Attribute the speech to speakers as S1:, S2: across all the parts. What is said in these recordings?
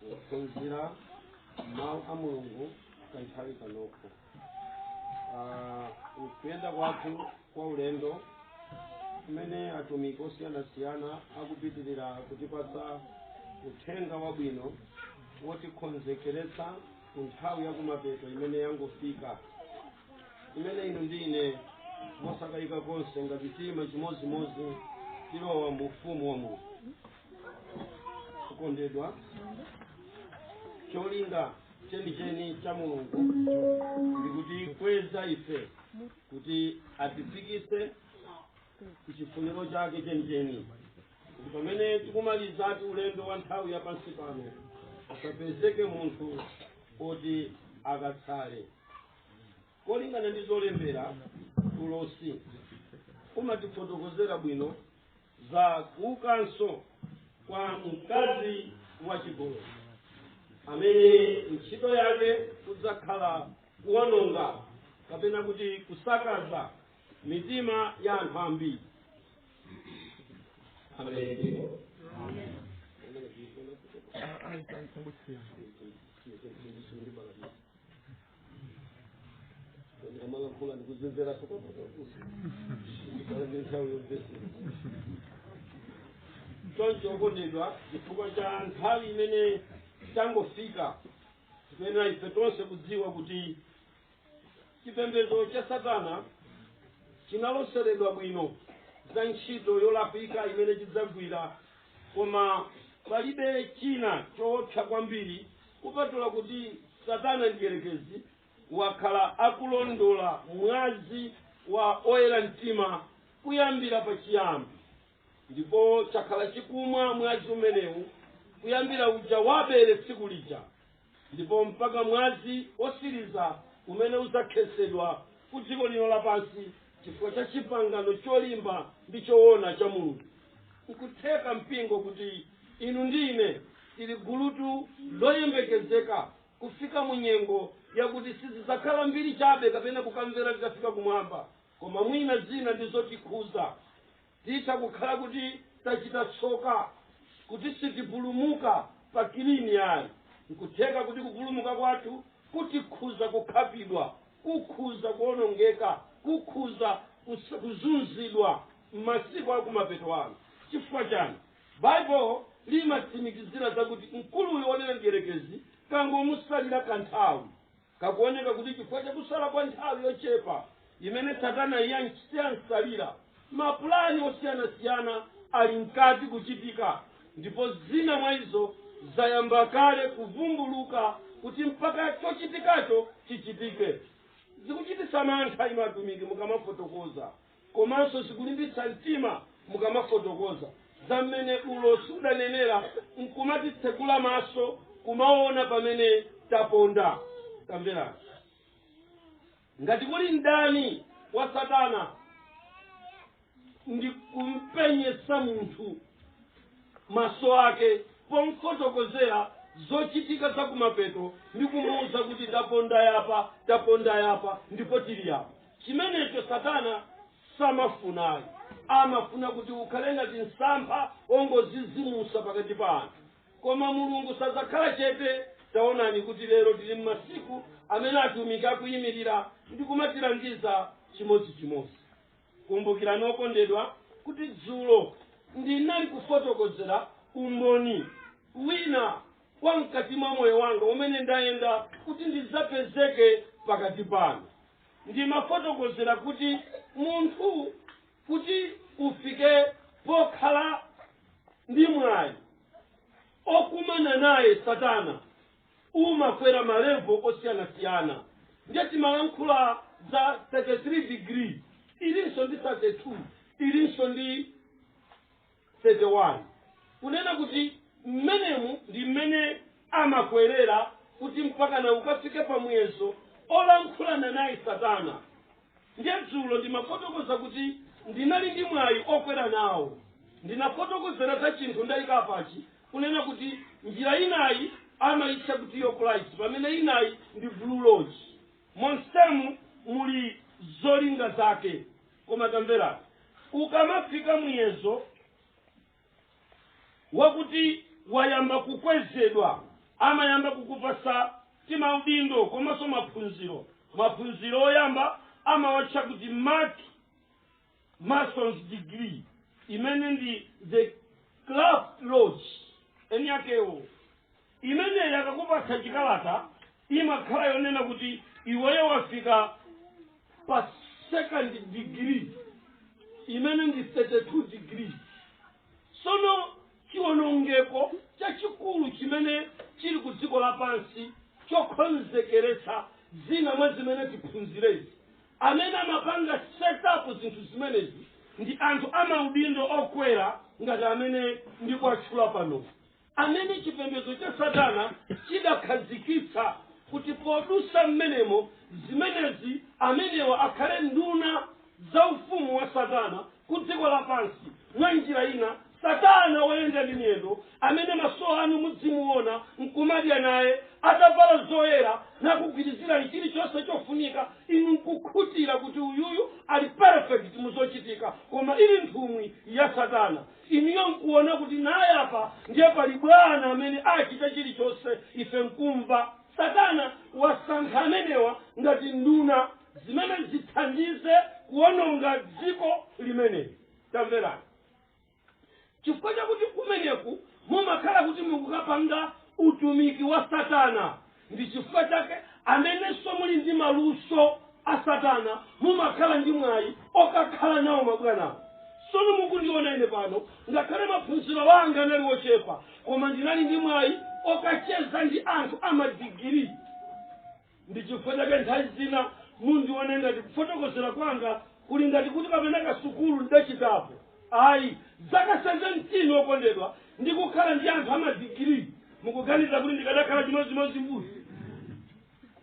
S1: kuphunzira mawu a mulungu kanthawi kanoko Ah, kuyenda kwathu kwa ulendo umene atumiki osiyanasiyana akupitirira kutipatsa uthenga wabwino wotikonzekeretsa ku nthawi yakumapeto imene yangofika imene inu ndi ine mosakayika konse ngati tiima chimodzimodzi tilowa mu ufumu wa mulungu okondedwa cholinga chenicheni cha mulungu ndi kutikweza ife kuti atifikise kuchifuniro chake chenicheni kuti pamene tikumalizati ulendo wa nthawi ya pansi pano asapezeke munthu woti akatsale molingana ndi zolembera ulosi umatifotokozera bwino za kuukanso kwa mkazi wachigololo amene ntchito yake kudzakhala kuwononga kapena kuti kusakaza mitima ya anthu ambiri amalankhula ndikuzimveranso ndi nthawi yomvesera choncho okondedwa chifukwa cha nthawi imene tangofika tiyenera ife tonse kudziwa kuti chipembedzo cha satana chinaloseredwa bwino za ntchito yolakwika imene chidzagwira koma palibe china choopsa kwambiri Kupatula kuti Satana Mdyerekezi wakhala akulondola mwazi wa oyera mtima kuyambira pachiyambi, ndipo chakhala chikumwa mwazi umenewu kuyambira uja wa Abele tsiku lija, ndipo mpaka mwazi wotsiriza umene udzakhetsedwa kudziko lino lapansi chifukwa cha chipangano cholimba ndi choona cha mulungu nkutheka mpingo kuti inu ndi ine tili gulutu loyembekezeka kufika mu nyengo yakuti sizidzakhala mbiri chabe kapena kukamvera tikafika kumwamba koma mwina zina ndi zotikhuza Titha kukhala kuti tachita tsoka, kuti sitipulumuka pa kilini ayi. Nkutheka kuti kupulumuka kwathu kutikhuza kukhapidwa, kukhuza kuonongeka, kukhuza kus- kuzunzidwa m'masiku akumapeto ano. Chifukwa chani? Bible limatsimikizira zakuti mkulu uyu wonena mdierekezi kangomutsalira kanthawi. Kakuoneka kuti chifukwa cha kusala kwa nthawi yochepa imene Satana yamsalira, mapulani osiyanasiyana ali mkati kuchitika ndipo zina mwa izo zayamba kale kuvumbuluka kuti mpaka chochitikacho chichitike. Zikuchititsa mantha inu atumiki mukamafotokoza. Komanso zikulimbitsa mtima mukamafotokoza za mmene ulosi udanenera n'kumatitsekula maso kumaona pamene taponda. Tamverani. Ngati kuli mdani wa Satana ndi kumpenyetsa munthu maso ake pomfotokozera zochitika za kumapeto ndi kumuuza kuti taponda yapa, taponda yapa ndipo tili yapa. chimenecho satana samafuna ayi amafuna kuti ukhale ngati msampha ongozizimusa pakati pa anthu koma mulungu sadzakhala chete taonani kuti lero tili m'masiku amene atumiki akuyimirira ndi kumatilangiza chimodzichimodzi kumbukirani okondedwa kuti dzulo ndinali kufotokozera umboni wina wa mkati mwa moyo wanga umene ndayenda kuti ndidzapezeke pakati panu ndimafotokozera kuti munthu kuti ufike pokhala ndi mwayi okumana naye satana umakwera malevo osiyanasiyana ndiye timalankhula za 33 degrees ilinso ndi 32 ilinso ndi 31 kunena kuti, Mmenemu ndi mmene amakwerera kuti mpakana ukafike pa muyezo olankhulana naye Satana. Ndiye dzulo ndimafotokoza kuti ndinali ndi mwayi okwera nawo. Ndinafotokozera za chinthu ndaika pachi kunena kuti njira inayi amaitcha kuti York Rite pamene inayi ndi blue lodge. Monsemu muli zolinga zake. Koma tamverani, ukamafika muyezo wakuti wayamba kukwezedwa amayamba kukupasa timaudindo komanso maphunziro maphunziro oyamba amawatcha kuti Mark Mason's degree imene ndi the craft lodge eni akewo imeneyi akakupatsa chikalata imakhala yonena kuti iweyo wafika pa second degree imene ndi 32 degrees sono chiwonongeko chachikulu chimene chili ku dziko lapansi chokonzekeretsa zina mwa zimene tiphunzirezi amene amapanga setup zinthu zimenezi ndi anthu amaudindo okwera ngati amene ndikuwatchula panowa amene chipembedzo cha Satana chidakhazikitsa kuti podutsa m'menemo zimenezi amenewa akhale nduna za ufumu wa Satana ku dziko lapansi. Mwa njira ina, Satana woyenda ndi miyendo, amene maso anu mudzimuona nkumadya naye, atavala zoyera, nakugwirizirani chilichonse chofunika, inu nkukhutira kuti uyuyu ali perfect mu zochitika, koma ili nthumwi ya Satana. Iniyo nkuona kuti naye apa ndiye pali bwana amene achita chilichonse ife nkumva. Satana wasankha amenewa ngati nduna zimene zithandize kuononga dziko limeneli. Tamverani. Chifukwa chakuti kumeneku mumakhala kuti mukukapanga utumiki wa Satana. ndi chifukwa chake amenenso muli ndi maluso a satana mumakhala ndi mwayi okakhala nawo mabwanawo sono mukundiona ine pano ngakhale maphunziro anga anali ochepa koma ndinali ndi mwayi okacheza ndi anthu amadigiri ndi chifukwa chake nthawi zina mundione ngati kufotokozera kwanga kuli ngati kuti kapena kasukulu ndidachitapo Ayi. Zaka 17, okondedwa, ndikukhala ndi anthu amadigiri, mukuganiza kuti ndikadakhala chimodzimodzi mbuzi?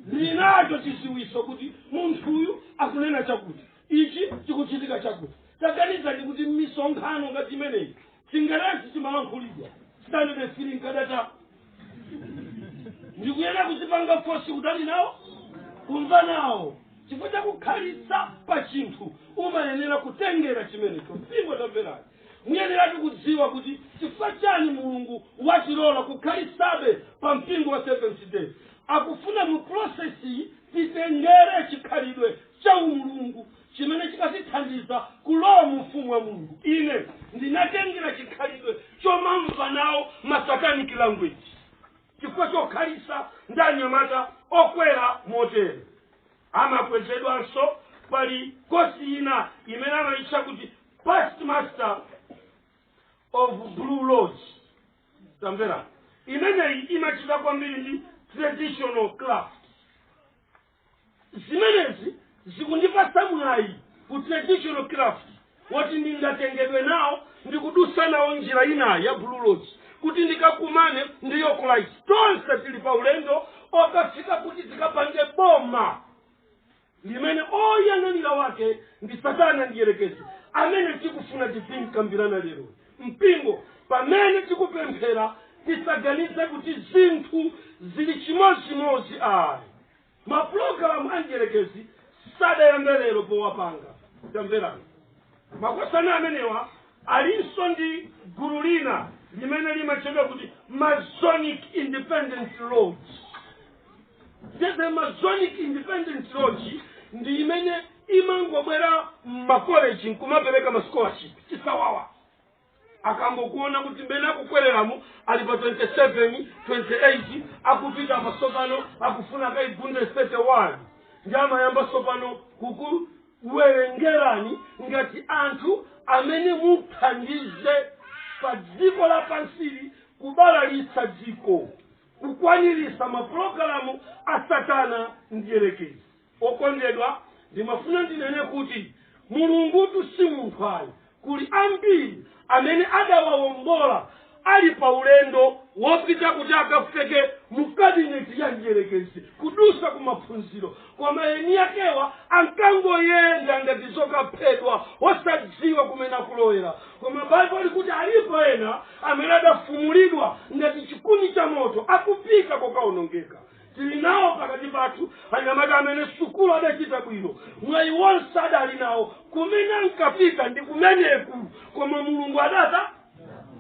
S1: Ndinacho chidziwitso kuti munthuyu akunena chakuti, ichi chikuchitika chakuti. Taganizani kuti m'misonkhano ngati imeneyi Chingerezi chimalankhulidwa, Sitandade 3 nkadatha. ndikuyenera kudzipanga fosi kutani nawo kumva nawo chifukwa chakukhalitsa pa chinthu umayenera kutengera chimenecho mpingo tamverani muyeneratu kudziwa kuti chifukwa chani mulungu watilola kukhalitsabe pa mpingo wa seventh day akufuna mu prosesi titengere chikhalidwe cha umulungu chimene chikatithandiza kulowa mu ufumu wa mulungu ine ndinatengera chikhalidwe chomamva nawo masatanic language chifukwa chokhalitsa ndi anyamata okwera motere amakwezedwanso pali kosi ina imene amayitcha kuti past master of blue lodge tamvera imeneyi imachita kwambiri ndi traditional craft zimenezi zikundipatsa mwayi ku traditional craft woti ndingatengedwe nawo ndikudutsa nawo njira ina ya blue lodge kuti ndikakumane ndi York Rite tonse tili pa ulendo okafika kuti tikapange boma limene oyang'anira wake ndi satana mdyerekezi amene tikufuna tizimkambirana lero mpingo. Pamene tikupemphera, tisaganize kuti zinthu zili chimodzimodzi ayi. Mapulogalamu a mdyerekezi sadayambe lero powapanga. Tamverani. Makosana amenewa alinso ndi gulu lina limene limatchedwa kuti Masonic Independent Lodge. the masonic independent lodge ndi imene imangobwera mmakoleji nkumapereka masikolashipi chisawawa akangokuona kuti mmene akukwereramo ali pa 27 28 akupita apa tsopano akufuna akaigunde 31 ndi amayamba tsopano kukuwerengerani ngati anthu amene muthandize pa dziko lapansili kubalalitsa dziko kukwanirisa mapulogalamu a satana mdyelekezi. okondedwa ndimafuna ndinene kuti mulungutu si munthu ayi kuli ambiri amene adawawombola ali pa ulendo wopita kuti akafike mu kabineti ya mdyelekezi kudusa ku maphunziro Koma eniakewa ankangoyenda ngati zokaphedwa, osadziwa kumene akulowera. Koma Baibulo likuti alipo ena amene adafumulidwa ngati chikuni cha moto, akupita kokawonongeka. Tili nawo pakati pathu anyamata amene sukulu adachita bwino, mwayi wonse adali nawo, kumene ankapita ndi kumeneku, koma Mulungu adata.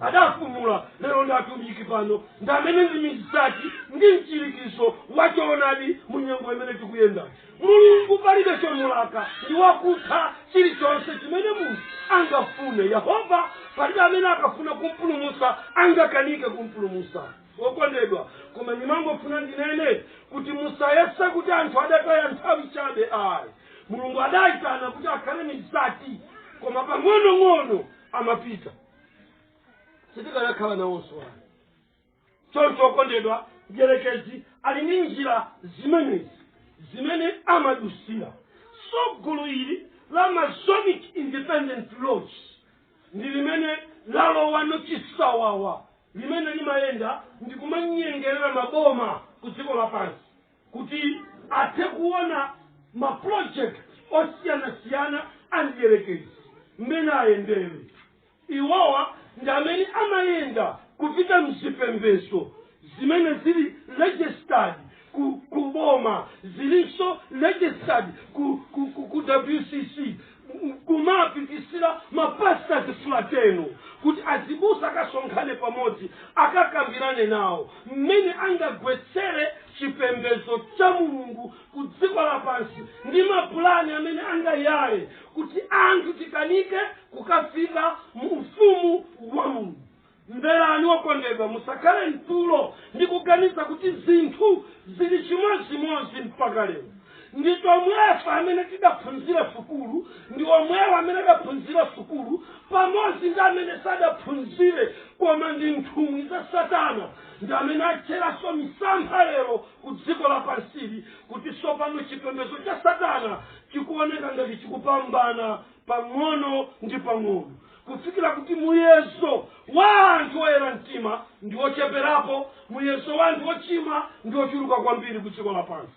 S1: adafumula lero ndi atumiki pano ndi amene ndi mizati ndi mchirikizo wa choonadi mu nyengo imene tikuyenda mulungu palibe chomulaka ndi wakutha chilichonse chimene munthu angafune yehova palibe amene akafuna kumpulumusa angakanike kumpulumusa okondedwa koma ndimangofuna ndinene kuti musayese kuti anthu adataya nthawi chabe ayi mulungu adayitana kuti akhale mizati koma pang'onong'ono amapita sitikanakhala nawonso ayi choncho okondedwa mdyerekezi ali ndi njira zimenezi zimene amadusira so gulu ili la masonic independent lodge ndi limene lalowano chisawawa limene limayenda ndi kumanyengerera maboma ku dziko lapansi kuti athe kuona ma project osiyanasiyana a mdierekezi mmene ayendere iwowa ndi amene amayenda kupita mzipembezo zimene zili registered ku, ku boma zilinso registered ku, ku, ku, ku wcc nkumapitisira mapastas fratenu kuti azibusa akasonkhane pamodzi akakambirane nawo mmene angagwetsere chipembedzo cha mulungu ku dziko lapansi ndi mapulani amene angayale kuti anthu tikanike kukafika mu ufumu wa mulungu mverani wokondedwa musakhale mtulo ndi kuganiza kuti zinthu zili chimodzimodzi mpaka lero ndi tomwefe amene tidaphunzira sukulu ndi omwewa amene adaphunzira sukulu pamodzi ndi amene sadaphunzire koma ndi nthumwi za satana ndi amene atchera nso misampha lero ku dziko lapansili kuti tsopano chipembedzo cha satana chikuoneka ngati chikupambana pang'ono ndi pang'ono kufikira kuti muyezo wa anthu oyera mtima ndi wocheperapo muyezo wa anthu ochimwa ndi wochuluka kwambiri ku dziko lapansi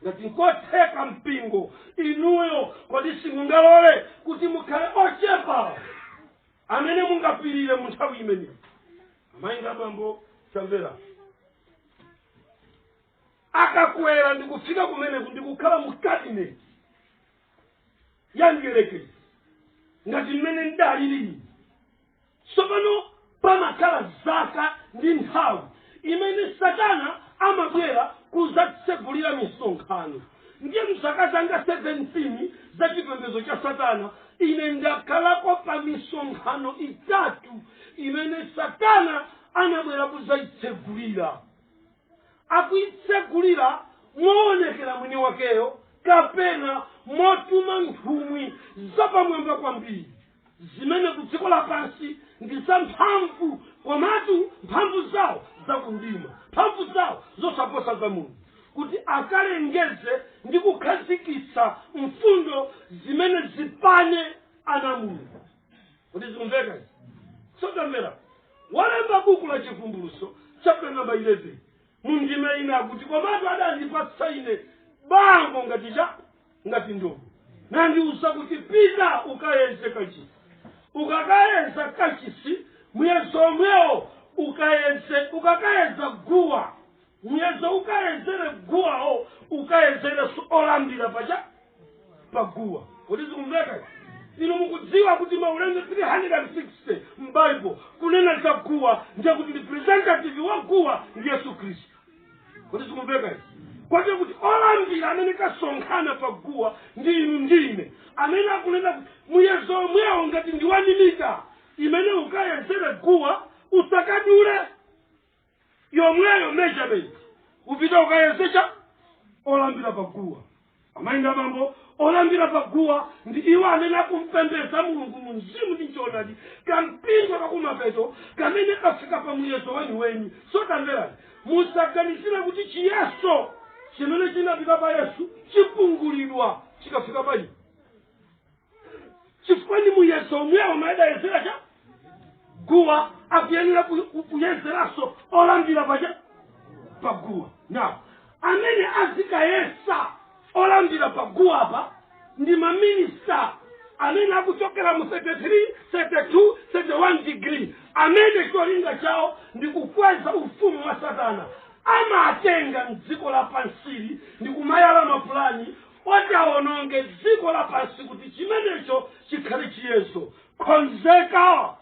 S1: ngati nkotheka mpingo inuyo kodi simungalole kuti mukhale ochepa amene mungapirire mu nthawi imeneyi amayi ndi abambo tamverani akakwera ndikufika kumeneku ndikukhala mu kabineti ya mdierekezi ngati mmene ndalili tsopano pamakhala zaka ndi nthawi imene satana amabwera kuzatsegulira misonkhano ndiye mzaka zanga 17 za chipembedzo cha satana ine ndakhalako pa misonkhano itatu imene satana anabwera kuzayitsegulira akuitsegulira mowonekera mwini wakeyo kapena motuma nthumwi zapamwamba kwambiri zimene ku dziko lapansi ndi zamphamvu komatu mphamvu zawo zakumdima mphamvu zawo zosaposa za mulungu kuti akalengeze ndi kukhazikitsa mfundo zimene zipane ana a mulungu kodi zikumveka izi tamverani walemba buku la chivumbuluso chapter number 11 mu ndime ina akuti komatu adandipatsa ine bango ngati cha ngati ndodo nandiuza kuti pita ukayeze kachisi ukakayeza kachisi muyezo omwewo ukayeze ukakayeza guwa Muyezo ukayezere guwawo ukayezere olambira paja paguwa kodi zikumveka inu mukudziwa kuti maulendo 360 m'Bible kunena za guwa ndiye kuti representative wa guwa ndi yesu khristu kodi zikumveka izi kodi kuti olambira amene asonkhana pa guwa ndi inu ndi ine amene akunena kuti muyezo omwewo ngati ndi wani mita imene ukayezere guwa usakadule yomweyo measurement upita ukayesecha olambira paguwa amayi nda bambo olambira paguwa ndi iwo amene akumpembedza mulungu mu mzimu ndi mchoonadi kampingo kakumapeto kamene kafika pa muyeso weniweni so tamverani musaganizire kuti chiyeso chimene chinapita pa yesu chipungulidwa chikafika pa inu chifukwa ndi muyeso womwewo adayezera cha guwa akuyenera ku- ku- kuyezeranso olambira pacha paguwa now amene azikayesa olambira paguwa apa ndi maminista amene akuchokera mu 33 32 31 degrees amene cholinga chawo ndi kukweza ufumu wa satana amatenga mdziko lapansili ndi kumayala mapulani oti awononge dziko lapansi kuti chimenecho chikhale chiyeso khonzeka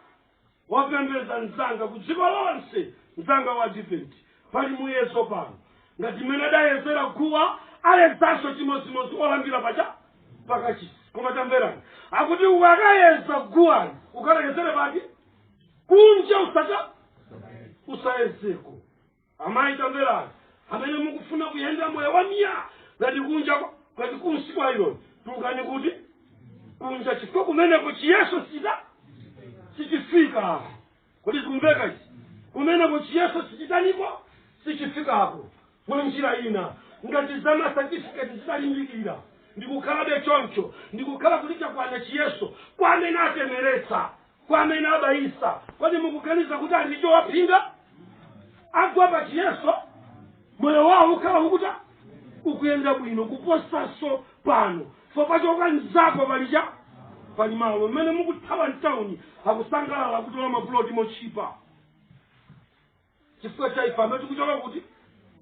S1: wopembedza mzanga ku dziko lonse mzanga wa advent pali muyeso pano ngati mmene adayezera guwa ayezanso chimodzimodzi olambira paja pakachisi koma tamverani akuti ukakayeza guwali ukalekezere pake kunja usaka usayezeko Amayi tamverani, amene mukufuna kuyenda moyo wa miya ngati kunja kwa- ngati kunsi kwa ironi tulukani kuti kunja chifukwa kumeneko chiyeso chita sichifika kodi zikumveka izi kumeneko chiyeso sichitaniko sichifikako mwa njira ina ngati za masatifiketi zitalimbikira ndikukhalabe choncho ndikukhala kuti chakwana chiyeso kwa amene atemetsa kwa amene abayisa kodi mukuganiza kuti ali ndi chowaphinga agwa pa chiyeso moyo wawo ukhala ukutani ukuyenda bwino kuposanso pano popachoka mzako palidya pali malo mmene mukuthawa mtawuni akusangalala kutola mapuloti motchipa chifukwa cha ife amene tikuchoka kuti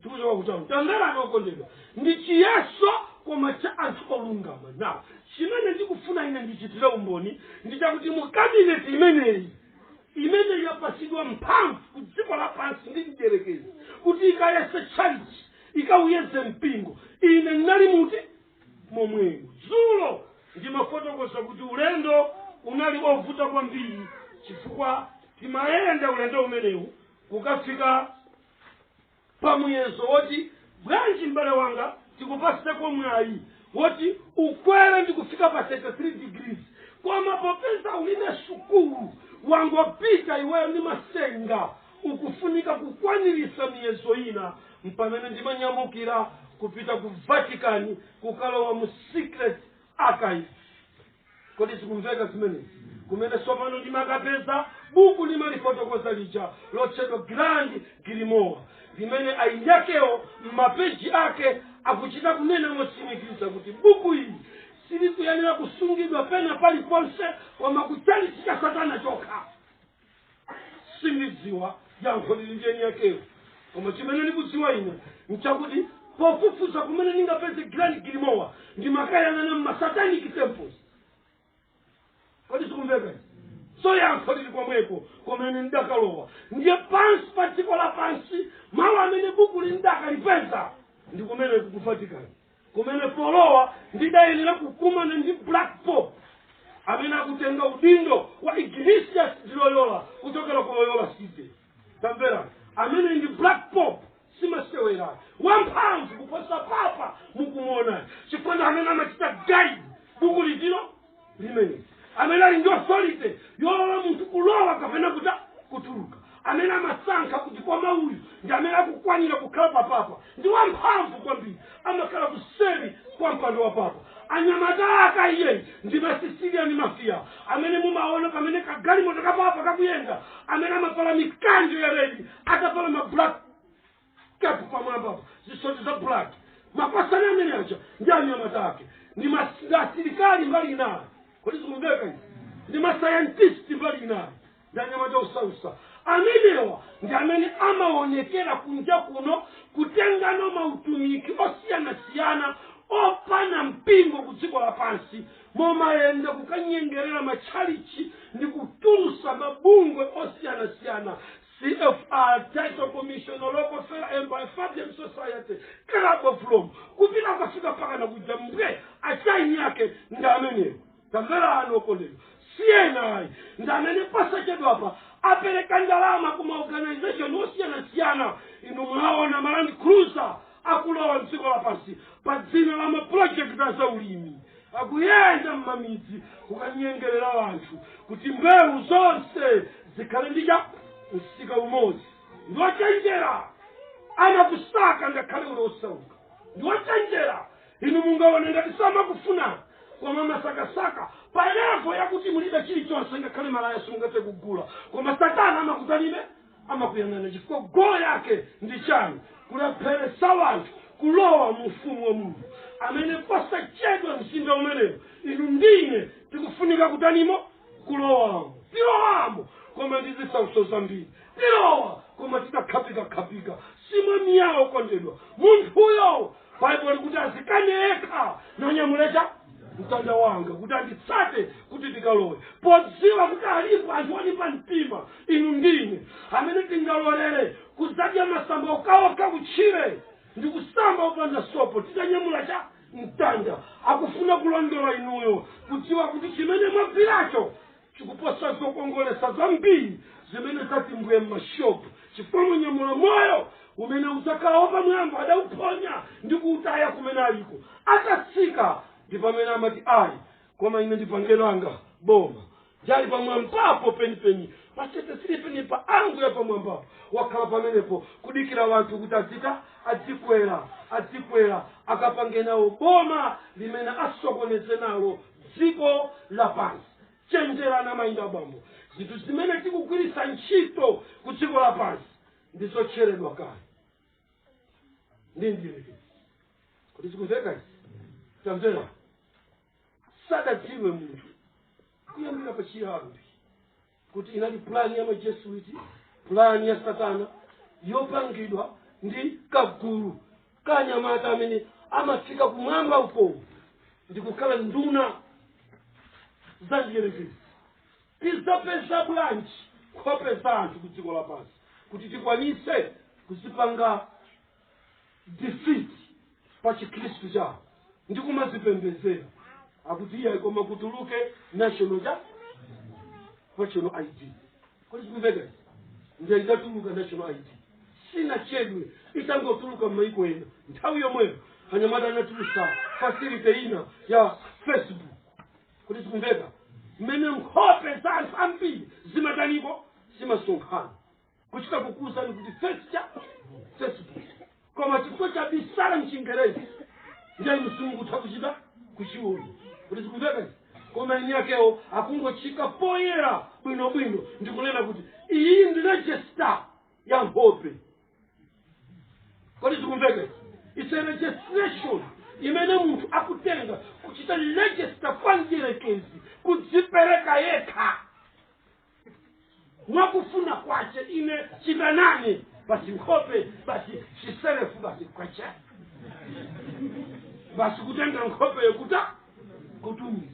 S1: tikuchoka kuti tamverani okondedwa ndi chiyeso koma cha anthu olungama now chimene ndikufuna ine ndichitire umboni ndi chakuti mu kabineti imeneyi imene yapatsidwa mphamvu ku dziko lapansi ndi mdierekezi kuti ikayese tchalichi ikawuyeze mpingo ine ndinali muti momwemo dzulo ndimafotokoza kuti ulendo unali ovuta kwambiri chifukwa timayenda ulendo umenewu kukafika pa muyezo woti bwanji m'bale wanga tikupatseko mwayi woti ukwere ndi kufika pa 33 degrees koma popeza ulibe sukulu wangopita iweyo ndi masenga ukufunika kukwanilisa miyezo ina mpamene ndimanyamukira kupita ku vatican kukalowa mu secret archive kodi zikumveka zimenezi kumene tsopano ndimakapeza buku limalifotokoza lija lotchedwa grand grimoire limene eni akewo m'mapeji ake akuchita kunena motsimikiza kuti buku ili silikuyenera kusungidwa pena paliponse koma kuchalichi cha satana chokha sindidziwa yankho lili ndi eni yakewo koma chimene ndikudziwa ine nchakuti pofufuza kumene ndingapeze grand grimoire ndimakayang'ana mmasatanic temples kodi zikumveka so yankho lili komweko kumene ndidakalowa ndiye pansi pa dziko lapansi malo amene bukuli ndakalipeza ndi kumene ku vatican kumene polowa ndidayenera kukumana ndi black pope amene akutenga udindo wa ignatius di loyola kuchokera ku loyola city tamvera amene ndi black pope simasewera wamphamvu kuposa papa mukumuona chifukwa ndi amene amachita guide bukuli tilo limene amene ali ndi authority yolola munthu kulowa kapena kuti kutuluka amene amasankha kuti koma uyu ndi amene akukwanira kukhala papa apa ndi wamphamvu kwambiri amakhala kuseri kwa mpando wa papa anyamata ake iyeyu ndi masisilia ndi mafia amene mumaona pamene kagalimoto kapapa kakuyenda amene amavala mikanjo ya redi atavala ma black kepu pamwamba apa zisoti za black mapasani amene aja ndi anyamata ake ndi mas- ndi asilikali mbali inayo kodi zikumveka izi ndi masayantisti mbali inayo ndi anyamata osautsa amenewa ndi amene amaonekera kunja kuno kutengana mautumiki osiyanasiyana opana mpingo ku dziko lapansi nkumayenda kukanyengerera matchalichi ndi kutulutsa mabungwe osiyanasiyana CFR Title Commission Rockefeller Empire Fabian Society Club of Rome kupita kukafika mpaka na kuja mbwe achaini yake ndi amenewo tamvera ana okondedwa CNI ndi amene posachedwa apa apereka ndalama ku maorganization osiyanasiyana inu mwaona ma Land Cruiser akulowa mdziko lapansi pa dzina la mapulojekiti a zaulimi akuyenda m'mamidzi kukanyengerera anthu kuti mbewu zonse zikhale ndi cha msika umodzi ndi ochenjera amakusaka ngakhale uli osauka ndi ochenjera inu mungaone ngati samakufunani koma amasakasaka pa levo yakuti mulibe chilichonse ngakhale malaya simungathe kugula koma satana amakufunabe amakuyang'ana chifukwa golo yake ndi chiyani kulepheresa wanthu kulowa mu ufumu wa mulungu amene posachedwa mzinda umenewo inu ndi ine tikufunika kutanimo
S2: kulowamo tilowamo koma ndi zisautso zambiri tilowa koma titakhapikakhapika si mwemiyawo kondedwa munthuyo baibulo likuti azikane yekha nanyamule cha mtanda wake kuti anditsate kuti tikalowe podziwa kuti alipo anthu olimba mtima inu ndine amene tingalolere kuzadya masamba okawaka kutchire ndi kusamba opanda sopo titanyamula cha mtanda akufuna kulondola inuyo kudziwa kuti chimene mwagwiracho chikuposa zokongolesa zambiri zimene zati mbwe m'mashopu chifukwa munyamula moyo umene udzakhala wapamwamba adawuphonya ndi kuutaya kumene aliko atatsika ndi pamene amati ayi koma ine ndipange langa boma ndi ali pamwambapo penipeni patetesiri penipa anguye pamwambapo wakhala pamenepo kudikira wanthu kuti azita azikwera azikwera akapange nawo boma limene asokoneze nalo dziko lapansi chenjerani amayi ndi abambo zinthu zimene tikugwiritsa ntchito ku dziko lapansi ndi zotcheredwa kale ndi mdierekezi kodi zikumveka izi tamvera sadadziwe munthu kuyambira pachiyambi kuti inali pulani ya majesuiti pulani ya satana yopangidwa ndi kagulu ka anyamata amene amafika kumwamba uko ndi kukhala nduna za mdierekezi tizapeza bwanji nkhope za anthu ku dziko lapansi kuti tikwanise kuzipanga defeat pa chikhristu chawo ndi kumazipembezera akuti iyayi koma kutuluke national cha national id kodi zikumveka izi ndiye itatuluka national id sinachedwe itangotuluka m'maiko ena nthawi yomweyo anyamata anatulutsa facility ina ya facebook kodi zikumveka mmene nkhope za anthu ambiri zimatani ko zimasonkhana kuchita kukuuzani kuti face cha facebook koma chifukwa chabisala mchingerezi ndiye simungathe kuchita kuchiona kodi zikumveka izi koma eni akewo akungochiika poyera bwinobwino ndikunena kuti iyi ndi regista ya nkhope kodi zikumveka izi it's a registration imene munthu akutenga kuchita register kwa mdierekezi kudzipereka yekha mwakufuna kwace ine citanani basi nkhope basi ciselefu basi kwace basi kutenga nkhope yokuta kutumiza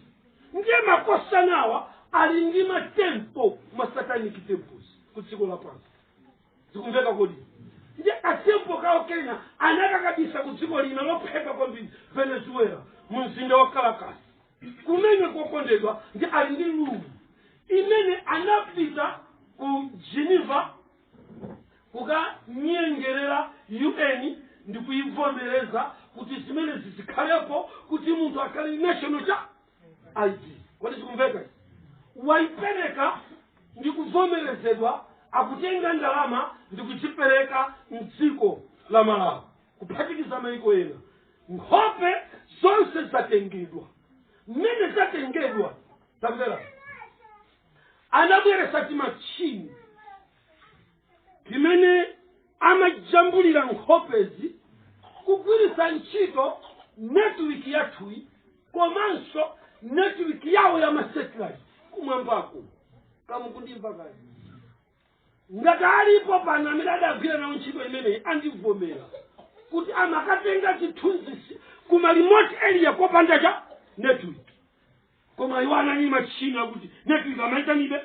S2: ndiye makosanawa ali ndi matempo masatanic temples ku dziko lapansi zikumveka kodi ndiye katempo kawo kena anakakhazikitsa ku dziko lina losauka kwambiri venezuela mu mzinda wa kalakasi kumene kokondedwa ndiye ali ndi gulu imene anapita ku geneva kukanyengerera un ndi kuyivomereza kuti zimene zizikhalepo kuti munthu akhale ndi national cha id kodi zikumveka izi? wayipereka ndi kuvomerezedwa akutenga ndalama ndi kuchipereka mdziko la malawi kuphatikiza maiko ena nkhope zonse zatengedwa mmene zatengedwa tamvera anabweretsa timachini timene amajambulira nkhopezi kugwiritsa ntchito netiwiki yathuyi komanso netiwiki yawo ya masetilaiti kumwambaku kodi mukundimva kodi ngati alipo pano amene adagwira nawo ntchito imeneyi andivomera kuti amakatenga zithunzizi ku malimoti eliya kopanda cha network koma iwo anali ndi machine yakuti network amaitanabe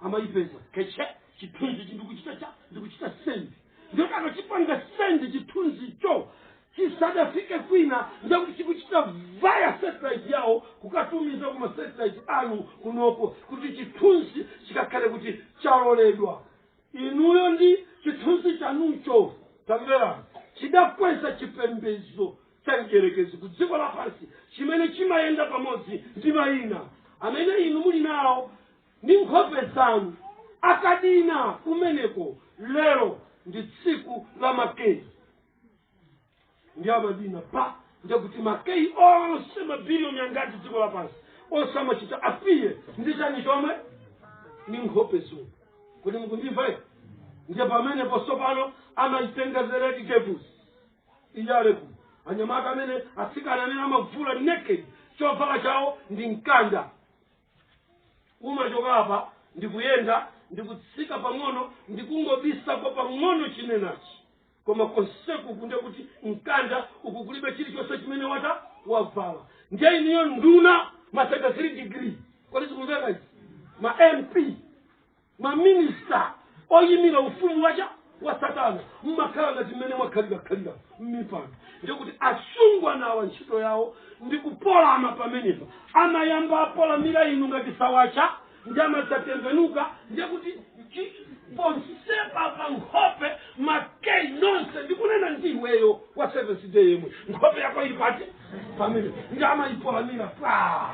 S2: amayipeza keche chithunzi chi ndikuchita cha ndikuchita sendi ndiye akachipanga send chithunzicho chisadafike kwina ndekuti chikuchita vaya satellite yawo kukatumiza ku masatellite anu kunoko kuti chithunzi chikakhale kuti chaloledwa inuyo ndi chithunzi chanucho tamvera chidakweza chipembedzo cha mdierekezi ku dziko lapansi chimene chimayenda pamodzi ndi mayina amene inu muli nawo ndi nkhope zanu akadina kumeneko lero ndi tsiku la ma key ndi amadina pa ndekuti ma key onse mabiliyoni angati dziko lapansi onse amachita apiye ndi chani chomwe ndi nkhope zomwe kodi mukundimva ine ndiye pamenepo tsopano amaitenga zereti kebusi iyaleku anyamata amene atsikana amene amavula naked chovala chawo ndi mkanda umachoka apa ndikuyenda ndikutsika pang'ono ndikungobisako pang'ono chinenachi koma konseku kundekuti mkanda uku kulibe chilichonse chimene wata wavala ndiye inuyo nduna ma 33 degree kodi zikumveka izi ma mp Maminista oyimira ufumu wa cha? wa Satana mmakhala ngati mmene mwakhalira-khalira m'mipando. Ndiye kuti asungwana awa ntchito yawo ndi kupolama pamenepa. Amayamba apolamira inu ngati sawacha ndi amadzatembenuka ndiye kuti ponsepa pa nkhope makei nonse ndikunena ndi iweyo wa Seventh Day yemwe nkhope yako ili pati pamene ndi amayipolamira pa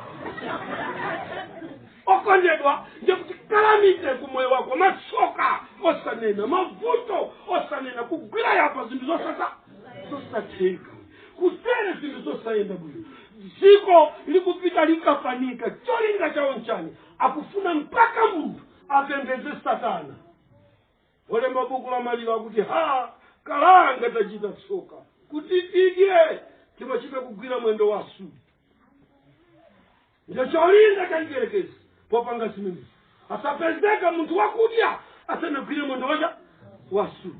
S2: okondedwa ndiye kuti kalamite ku moyo wako masoka osanena mavuto osanena kugwira yapa zinthu zo zosatheka kutere zinthu zosayenda bwino dziko likupita likafanika cholinga chawo nchani akufuna mpaka munthu apembeze satana olemba buku la maliro akuti ha kalanga tachita tsoka kuti tidye timachita kugwira mwendo wa Asuri Ndicho cholinga cha mdierekezi popanga zimenezi. Asapezeke munthu wakudya asanagwire mwendo wa cha wa Asuri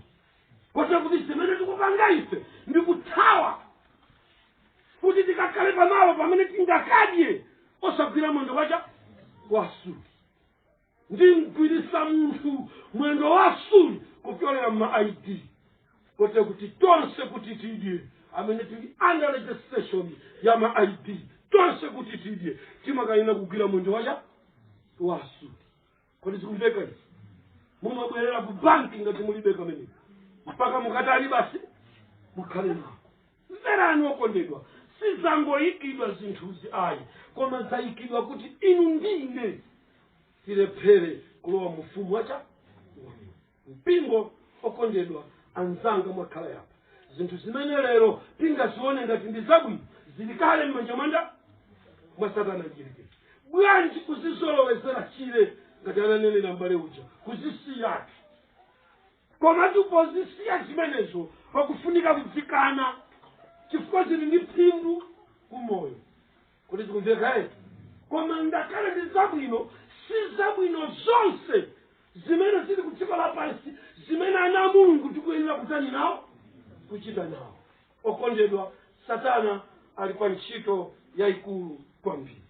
S2: kotero kuti zimene tikupanga ife ndi kuthawa kuti tikakhale pamalo pamene tingakadye osagwira mwendo wa cha wa Asuri ndimgwirisa munthu mwendo wa Asuri kupyolera mma id kote kuti tonse kuti tidye amene tili under registration ya ma id tonse kuti tidye timakayenera kugwira mwendo wa cha wa Asuri kodi zikumveka izi mumabwerera ku banki ngati mulibe kameneko mpaka mukatani basi mukhale nako Mverani okondedwa, sizangoikidwa zinthuzi ayi, koma zaikidwa kuti inu ndi ine tilephere kulowa mu Ufumu wa cha? Wa Mulungu. Mpingo, okondedwa anzanga mwakhala yapa, zinthu zimene lero tingazione ngati ndi zabwino zili kale m'manja mwa nda? Mwa Satana Mdyerekezi. Bwanji kuzizolowezera tchire ngati ananenera m'bale uja, kuzisiyatu. Komatu pozisiya zimenezo, pakufunika kudzikana chifukwa zili ndi phindu ku moyo. Kodi zikumveka eti? Koma ngakhale ndi zabwino, si zabwino zonse zimene zili ku dziko lapansi zimene ana a Mulungu tikuyenera kutani nawo kuchita nawo. Okondedwa, Satana ali pa ntchito yayikulu kwambiri.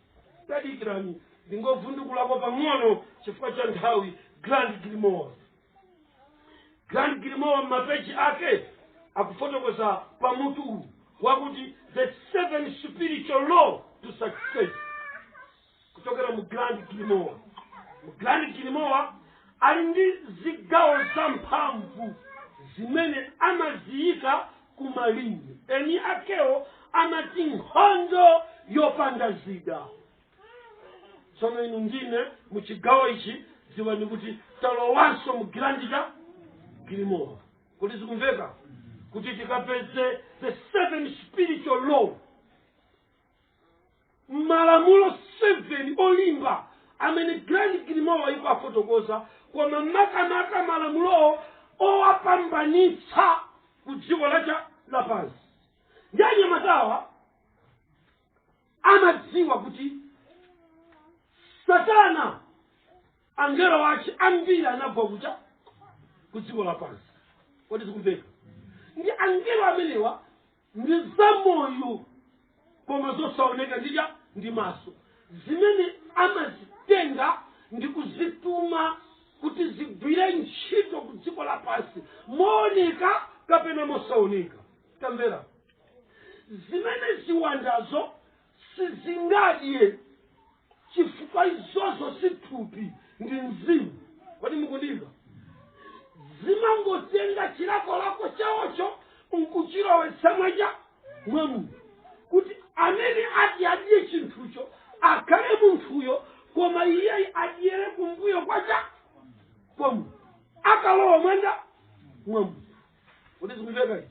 S2: Tadikirani, ndingovundukulako pang'ono chifukwa cha nthawi. Grand Grimoire. grand grimoire m'mapeji ake akufotokoza pa mutu uwu wakuti the seven spiritual law to success kuchokera mu grand grimoire mu grand grimoire ali ndi zigawo za mphamvu zimene amaziyika kumalinga eni akewo amati nkhondo yopanda zida tsono inu ndine mu chigawo ichi dziwani kuti talowanso mu grand grimoire kodi zikumveka kuti tikapeze the seven spiritual law malamulo seven olimba amene grand grimoire ikuwafotokoza koma makamaka malamulowo owapambanitsa ku dziko la cha lapansi ndi anyamatawa amadziwa kuti satana angelo ache ambiri anagwa ku cha ku dziko lapansi kodi zikumveka ndi angelo amenewa ndi zamoyo koma zosaoneka ndi cha ndi maso zimene amazitenga ndi kuzituma kuti zigwire ntchito ku dziko lapansi mooneka kapena mosaoneka tamvera zimene ziwandazo sizingadye chifukwa izozo si thupi ndi mzimu kodi mukundimva zimangotenga chilakolako chawocho nkuchilowetsa mwa cha mwa munthu kuti amene ati adye chinthucho akhale munthuyo koma iye adyere kumbuyo kwa cha kwa munthu akalowa mwa nda mwa munthu kodi zikumveka izi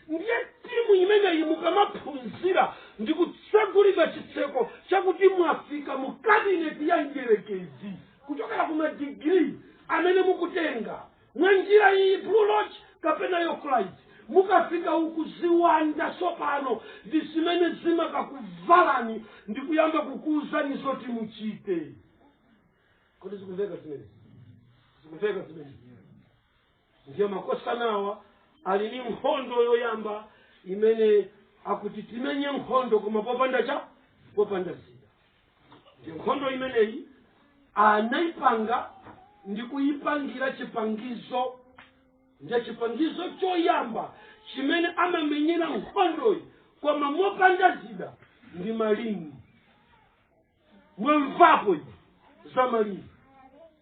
S2: ndiye timu imeneyi mukamaphunzira ndi kutsegulira chitseko chakuti mwafika mu kabineti ya mdierekezi kuchokera ku madigiri amene mukutenga mwa njira iyi blue lodge kapena york rite mukafika uku ziwanda tsopano ndi zimene zimakakuvalani ndi kuyamba kukuwuzani zoti muchite kodi zikumveka zimenezi zikumveka zimenezi Ndiye makosanawa ali ni nkhondo yoyamba imene akuti timenye nkhondo koma popanda cha popanda zida. Ndiye nkhondo imeneyi anaipanga ndi kuipangira chipangizo ndiye chipangizo choyamba chimene amamenyera nkhondoyi koma mopanda zida ndi malingi mwamvapo inu za malingi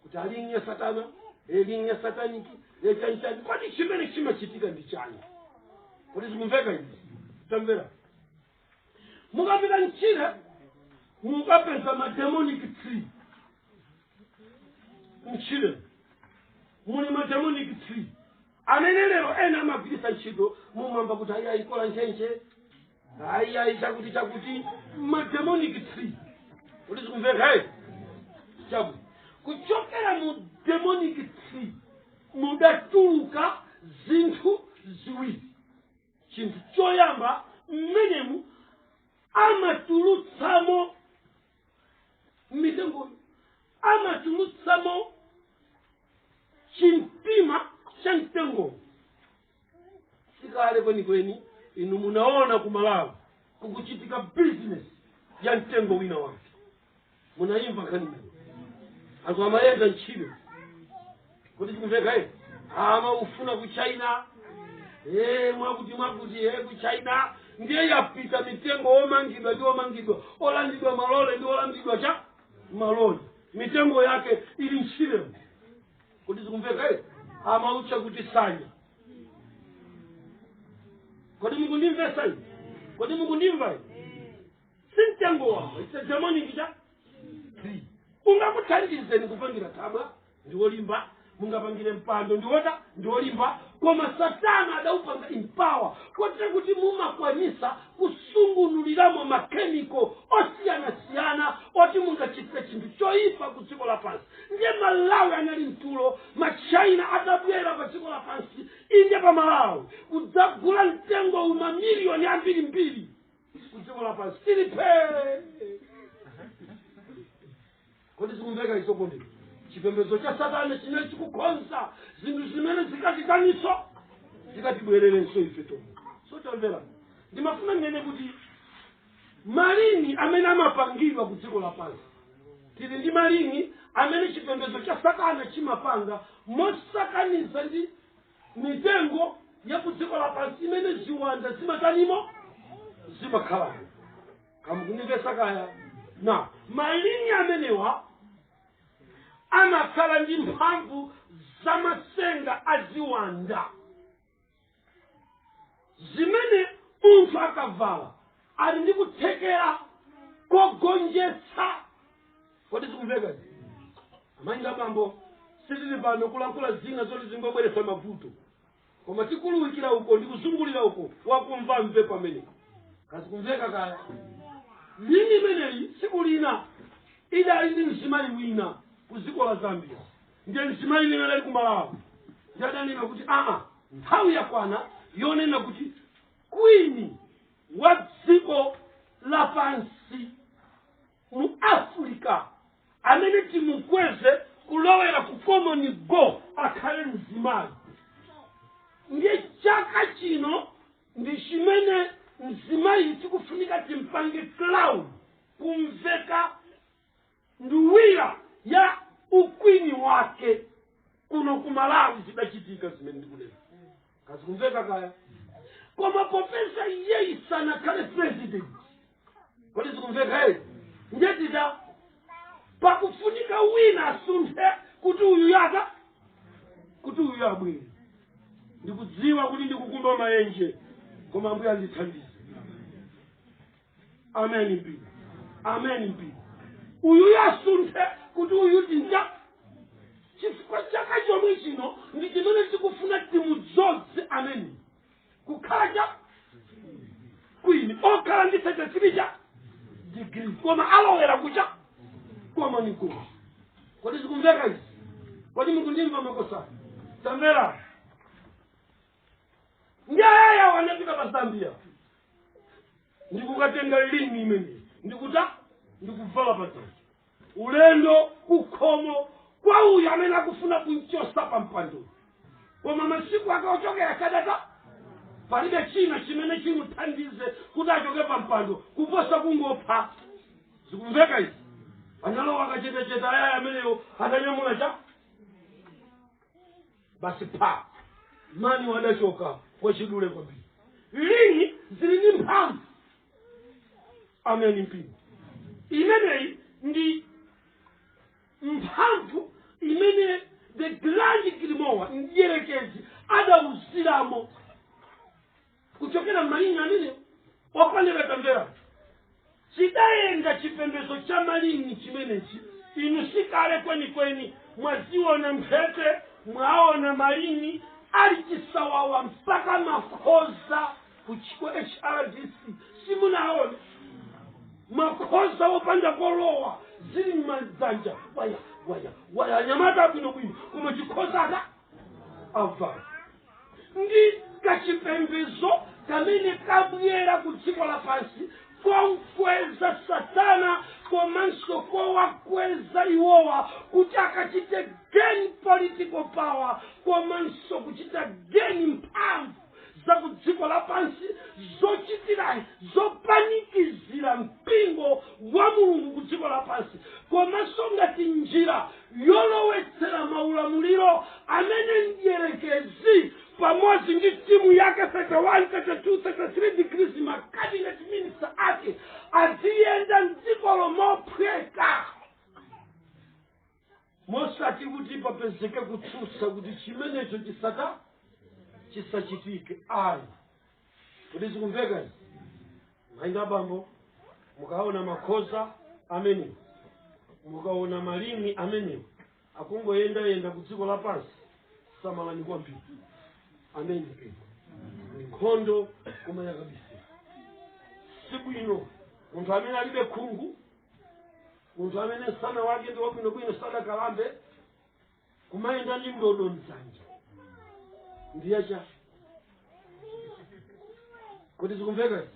S2: kuti a lingi ya satana e lingi ya sataniki e chanichani kodi chimene chimachitika ndi chani kodi zikumveka izi tamvera mukapita mchire mukapeza mademonic tree mchire muli mademonic tree amene lero ena amagwiritsa ntchito mumwamba kuti ayi ayikola ntchentche ayi ayi chakuti chakuti mu demonic tree kodi zikumveka eh? chakuti kuchokera mu demonic tree mudatuluka zinthu ziwiri chinthu choyamba mmenemu amatulutsamo mitengoyo amatulutsamo chimtima cha mtengo sikale kwenikweni inu munaona ku malawi kukuchitika bizinesi ya mtengo wina wake munayimva nkhani imene anthu amayenda ntchire kodi zikumveka eti amaufuna ku china Eh, mwakuti mwakuti eh, ku china ndiye yapita mitengo omangidwa ndi omangidwa olandidwa malole ndi olandidwa cha malole mitengo yake ili ntchire kodi zikumveka izi amautcha kuti tsanya kodi mukundimvetsa izi kodi mukundimva izi si mtengo wamba it's a demonic cha tree ungakuthandizeni kupangira thabwa ndi wolimba mungapangire mpando ndiwota ndiwolimba koma satana adaupanga empower kotera kuti mumakwanisa kusungunuliramo makhemiko osiyanasiyana oti mungachitire chinthu choyipa ku dziko lapansi ndiye malawi anali mtulo machina adabwera pa dziko lapansi inde pa malawi kudzagula mtengowu mamiliyoni ambiri mbiri ku dziko lapansi tili phee kodi zikumveka izi kodi chipembedzo cha satana chimene chikukonza zinthu zimene zikatitaninso zikatibwererenso ife tomwe so tamverani ndimafuna ndinene kuti malini amene amapangidwa ku dziko lapansi tili ndi malini amene chipembedzo cha satana chimapanga mosakaniza ndi mitengo ya ku dziko lapansi imene ziwanda zimatanimo zimakhalamo kamukundimvetsa kaya nde malini amenewa amakhala ndi mphamvu za matsenga a ziwanda zimene munthu akavala ali ndi kuthekera kogonjetsa kodi zikumveka izi amayi ndi abambo sitili pano kulankhula zina zoti zingobweretsa mavuto koma tikuunikira uko ndi kuzungulira uko wakumva amve pamene kazikumveka kaya lini imeneyi tsiku lina idali ndi mzimayi wina ku dziko la zambia ndiye mzimayi wina ali kumalawi ndiye adanena kuti aa nthawi yakwana yonena kuti kwini wa dziko lapansi mu africa amene timukweze kulowera ku common go akhale mzimayi ndiye chaka chino ndi chimene mzimayi tikufunika timpange crown kumveka nduwira ya ukwini wake kuno ku malawi zidachitika zimene ndikunena kaya zikumveka kaya koma popeza iyeyi sanakhale president kodi zikumveka eye ndiyetita pakufunika wina asunthe kuti uyu yaka kuti uyu abwere ndikudziwa kuti ndikukumba maenje koma ambuye andithandize ameni mpingo ameni mpingo uyu asunthe kuti uyu tinja chifukwa chaka chomwe chino ndi chimene tikufuna timudzoze ameni kukhala cha kwini okhala ndi thirty-three cha digiri koma alowera ku cha common go kodi zikumveka izi kodi mukundimva makosana tamvera ndi ayayawo anapita pa zambia ndikukatenga lingi imeneyi ndikuta ndikuvala padzanja ulendo kukhomo kwa uyu amene akufuna kumchosa pa mpando koma masiku ake ochokera kadata palibe china chimene chimuthandize kuti achoke pa mpando kuposa kungopha zikumveka izi analowa mwakachetechete ayayi ameneyo atanyamula cha basi pa mani adachoka mwachidule kwambiri lingi zili ndi mphamvu ameni mpingo imeneyi ndi mphamvu imene the grand grimoire mdierekezi adauziramo kuchokera m'malingi amenewo okondedwa tamvera chidayenda chipembedzo cha malingi chimenechi inu sikale kwenikweni mwaziona mphete mwaona malingi ali chisawawa mpaka makhoza kuchiko hrdc simunaona makhoza opanda kolowa zili m'madzanja waya waya waya anyamata abwinobwino koma chikhoza atavala ndi kachipembedzo kamene kabwera ku dziko lapansi komkweza satana komanso kowakweza iwowa kuti akachite gain political power komanso kuchita gain mphamvu za ku dziko lapansi zochitira zopanikizira mpingo wa mulungu ku dziko lapansi komanso ngati njira yolowetsera maulamuliro amene mdierekezi pamodzi ndi timu yake 31 32 33 degrees ma cabinet minister ake aziyenda mdziko lomophweka mosati kuti papezeke kutsutsa kuti chimenecho chisata chisachitike ayi kuti zikumveka izi mayi ndi abambo mukaona makhoza amenewo mukaona malimi amenewo akungoyendayenda ku dziko lapansi samalani kwambiri amene ndi nkhondo koma yakabisira si bwino munthu amene alibe khungu munthu amene msana wake ndi wabwinobwino sadakalambe kumayenda ndi ndodo mdzanja ndi ya chani kodi zikumveka izi?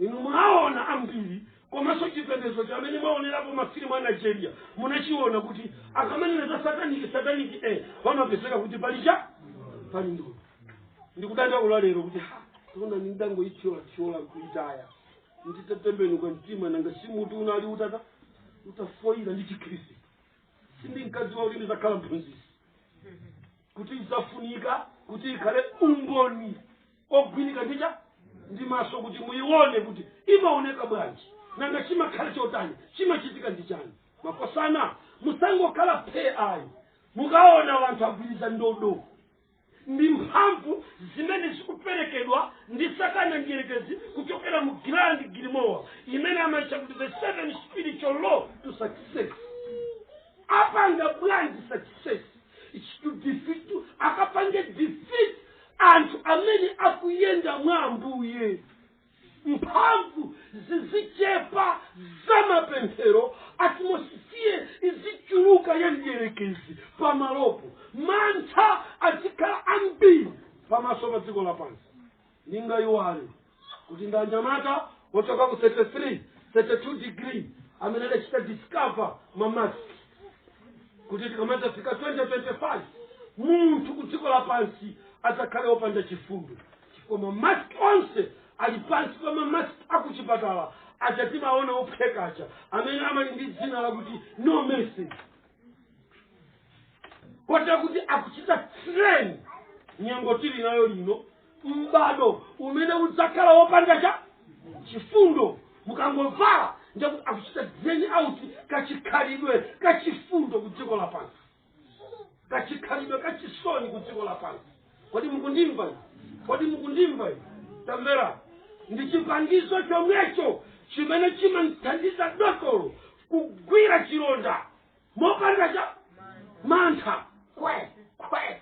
S2: inu mwaona ambiri komanso chipembedzo chamene mwaonerapo mafilimu a nigeria munachiona kuti akamanena za sataniki sataniki e pamapezeka kuti pali cha pali ndodo ndikudandaula lero kuti ha ndinangoithyolathyola kuitaya nditatembenuka mtima nanga si mutu unali utata utafoyira ndi chikhristu sindinkadziwa kuti ndizakhala mphunzitsi kuti idzafunika kuti ikhale umboni ooneka nji ndi maso kuti muyione kuti imaoneka bwanji nanga chimakhala chotani chimachitika ndi chani makosana musangokhala phe ayi mukaona anthu agwiriza ndodo ndi mphamvu zimene zikuperekedwa ndi satana mdierekezi kuchokera mu grand grimoire imene amatcha kuti the seven spiritual law to success apanga bwanji success It's to defeat to- akapange defeat anthu amene akuyenda mwa ambuye mphamvu zizichepa za mapemphero atmosphere izichuluka ya mdierekezi pamalopo mantha azikhala ambiri pamaso pa dziko lapansi ndingayiwale kuti ndi anyamata ochoka ku 33 32 degree amene adachita discover mamaski kuti tikamadzafika 2025 munthu ku dziko lapansi adzakhale opanda chifundo chifukwa mamask onse ali pansi pa mamask akuchipatala aja timaona ophweka aja amene ali ndi dzina lakuti no mercy kotera kuti akuchita train nyengo tili nayo ino m'bado umene udzakhala wopanda cha chifundo mukangovala njakuti akuchita drain out kachikhalidwe kachifundo ku dziko lapansi kachikhalidwe kachisoni ku dziko lapansi kodi mukundimva inu? kodi mukundimva inu? tamvera ndi chipangizo chomwecho chimene chimamthandiza dotolo kugwira chilonda mopanda cha mantha kwe kwe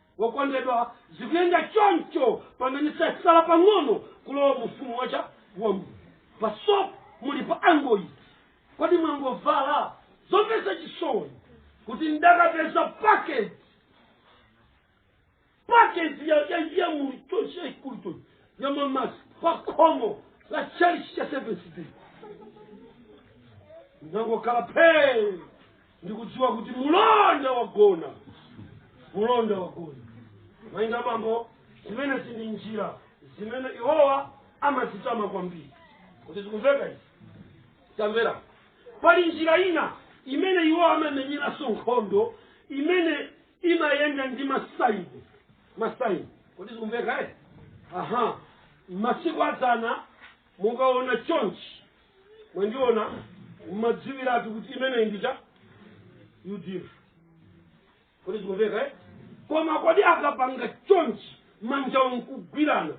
S2: wokondedwa zikuyenda choncho pamene zasala pang'ono kulowa mu ufumu wache wa mulungu pasopo muli pa angoyi kodi mwangovala zomvetsa chisoni kuti ndakapeza packet packet ya ya ya mu chonse yaikulu chonse ya mamasi pa khomo la chalichi cha seventh day ndangokhala phee ndikudziwa kuti mulonda wagona mulonda wagona amayi ndi abambo zimenezi ndi njira zimene iwowa amazitama kwambiri kodi zikumveka izi tamvera pali njira ina imene iwowa amamenyeranso nkhondo imene imayenda ndi masaini masaini kodi zikumveka eh? aha masiku adzana mukaona chonchi mwandiona mmadziwiratu kuti imeneyi ndi cha udf kodi zikumveka eh? koma kodi akapanga chonchi manja nkugwirana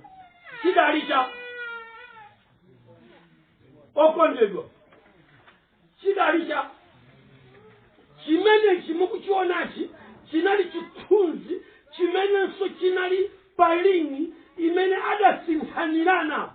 S2: chidali cha okondedwa chidali cha chimenechi mukuchionachi chinali chithunzi chimenenso chinali pa ling'i imene adasinthanirana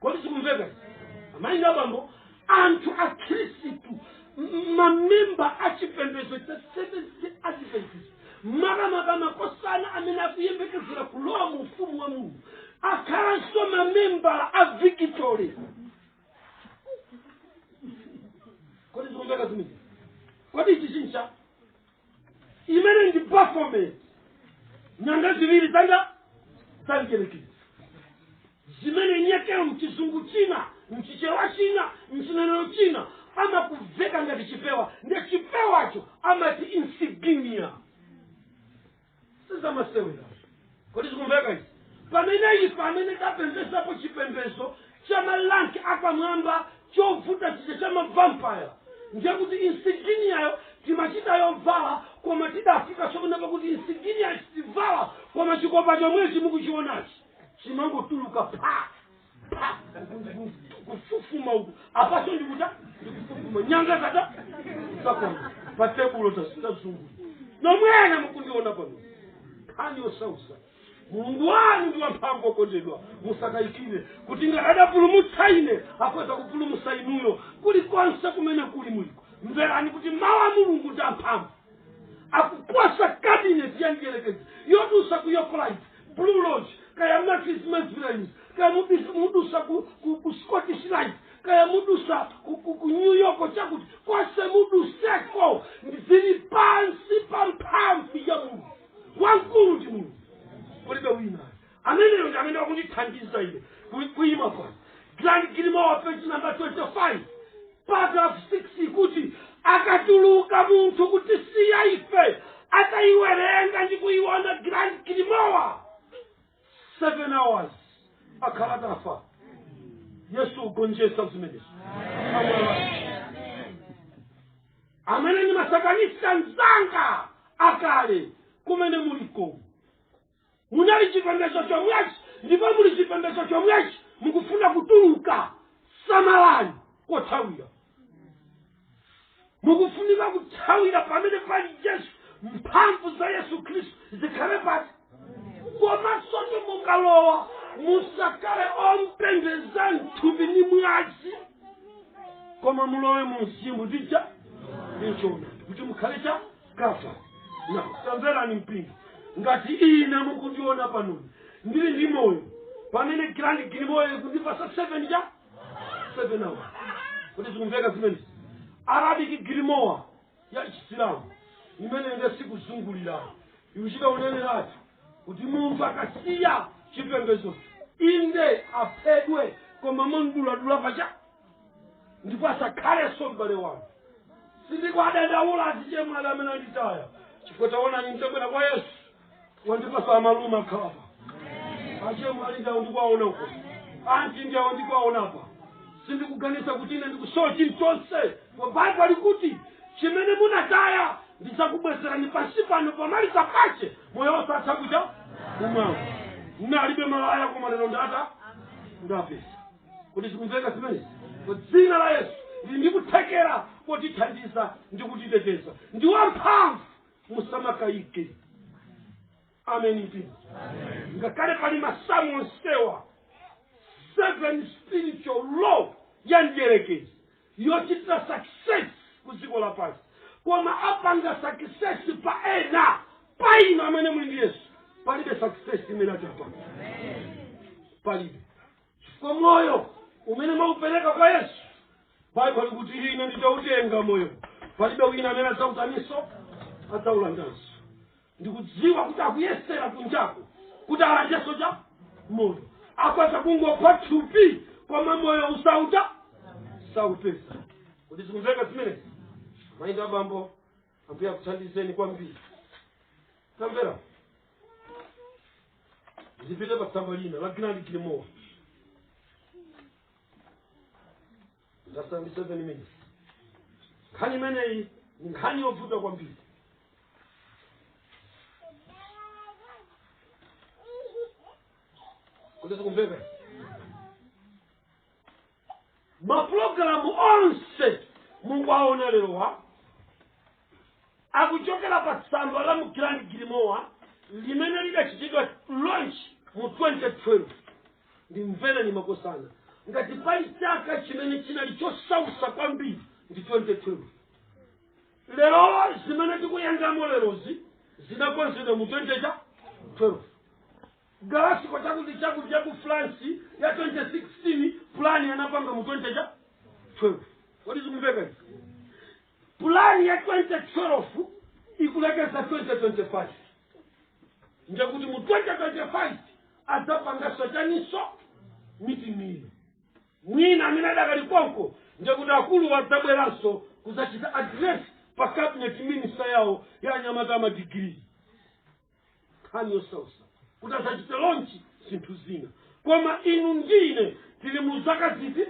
S2: kodi zikumveka izi? amayi ndi abambo anthu akhristu m- mamemba a chipembedzo cha seventh adventist makamaka makosana amene akuyembekezera kulowa mu ufumu wa mulungu akhalanso mamemba a victory kodi zikumveka zimene kodi ichi chincha imene ndi baphomet nyanga ziwiri zanga za mdyerekezi zimene nyekero mchizungu china mchichewa china mchinenero china amakuveka ngati chipewa nde chipewacho amati insignia sizamasewera kodi zikumveka izi pamene ife amene tapembezapo chipembezo cha malanki apamwamba chovuta chija cha mavampaya ndiye kuti insiginiyayo timachita yovala koma tidafika sokuna pakuti insiginiya sitivala koma chikopa chomwechi mukuchionachi chimangotuluka phaa pa kufufuma uku apaso ndikuta ndikufufuma nyanga zata zakona pa tebulo tasitazungu mmene mukundiona pano nkhani yosausa mulungu wanu ndi wamphamvu okondedwa musakayikire kuti ngati adapulumutsa ine akhoza kupulumutsa inuyo kulikonse kumene kuli muliko mverani kuti mawu a mulungu ndi amphamvu kuposa kabineti ya mdierekezi yodusa ku york rite blue lodge kaya matrix mesbrands kaya mubis- mudusa ku, ku, ku scottish rite kaya mudusa ku, ku, ku new york chakuti konse muduseko zili pansi pa mphamvu ya mulungu wamkulu ndi mulungu kulibe wina ameneyo ndi amene wakundithandiza ine ku- kuima pano grand grimoire page number 25 paragraph 6 kuti akatuluka munthu kutisiya ife atayiwerenga ndi kuyiona grand grimoire 7 hours akhala atafa yesu wagonjesa zimenezo amene ni masatanista anzanga akale kumene muliko munali chipembedzo chomwechi ndipo muli chipembedzo chomwechi mukufuna kutuluka samalani kothawira mukufunika kuthawira pamene pali yesu mphamvu za yesu khristu zikhale pati komanso mukalowa musakhale ompembeza mthupi ndi mwazi koma mulowe mu mzimu ndi choona kuti mukhale cha kafa na tamverani mpingo ngati ine mukundiona panoni ndili ndi moyo pamene grand grimoire ikundipasa seven ja seven hours kuti zikumveka zimene arabic grimoire ya chisilamu imene ine sikuzungulira ikuchita uneneratu kuti munthu akasiya chipembedzo inde aphedwe koma momuduladula pacha ndipo asakhalenso m'bale wanu sindikuwadandaula azichemwali amene anditaya chifukwa taonani nditabwera kwa yesu wandipasa amalume akhalapa achemwali ndawo ndikuwaona uko anti ndawo ndikuwaonapa sindikuganiza kuti ine ndikusowa chilichonse kwa baibulo alikuti chimene munataya ndizakubwezerani pansi pano pomaliza pache moyo wosatha kuja kumwamba ndinalibe malaya koma lero ndata ndapeza kuti zikumveka zimenezi dzina la yesu lili ndi kuthekera kotithandiza ndi kutiteteza ndi wamphamvu musamakayike ameni mpingo ngakhale pali masamu onsewa seven spiritual law ya mdierekezi yochitira success ku dziko lapansi koma apanga success pa ena pa inu amene muli ndi yesu palibe success imene atapanga palibe chifukwa moyo umene mwaupereka kwa yesu baibulo likuti ine nditautenga moyo palibe wina amene adzautaninso, adzaulandanso ndikudziwa kuti akuyesera kunjako kuti alandenso cha moyo akwaza kungopha thupi koma moyo usauta saupeza kodi zikumveka zimenezi mayi ndi abambo ambuye akuthandizeni kwambiri tamvera ndipite pa tsamba lina la Grand Grimoire ndasambisa seven minutes nkhani imeneyi ni nkhani yovuta kwambiri kodi zikumveka mapulogalamu onse mukuwaona lerowa akuchokera pa tsamba la mu Grand Grimoire limene lidachitidwa launch mu 2012 ndimvereni makosana ngati pali chaka chimene chinali chosausa kwambiri ndi 2012 lero zimene tikuyendamo lerozi zinakonzedwa mu 2012 Galasiko chakuti chakuti ya ku France ya 2016 plan anapanga mu 20 cha 12 kodi zikumveka izi plan ya 2012 ikulekeza 2025 ndiye kuti mu 2025 adzapanganso chaninso meeting iyo mwina amene adakali konko ndiye kuti akulu adzabweranso kudzachita address pa cabinet minister yawo ya anyamata amadigiri nkhani yosausa kuti adzachite launch zinthu zina koma inu ndine tili mu zaka ziti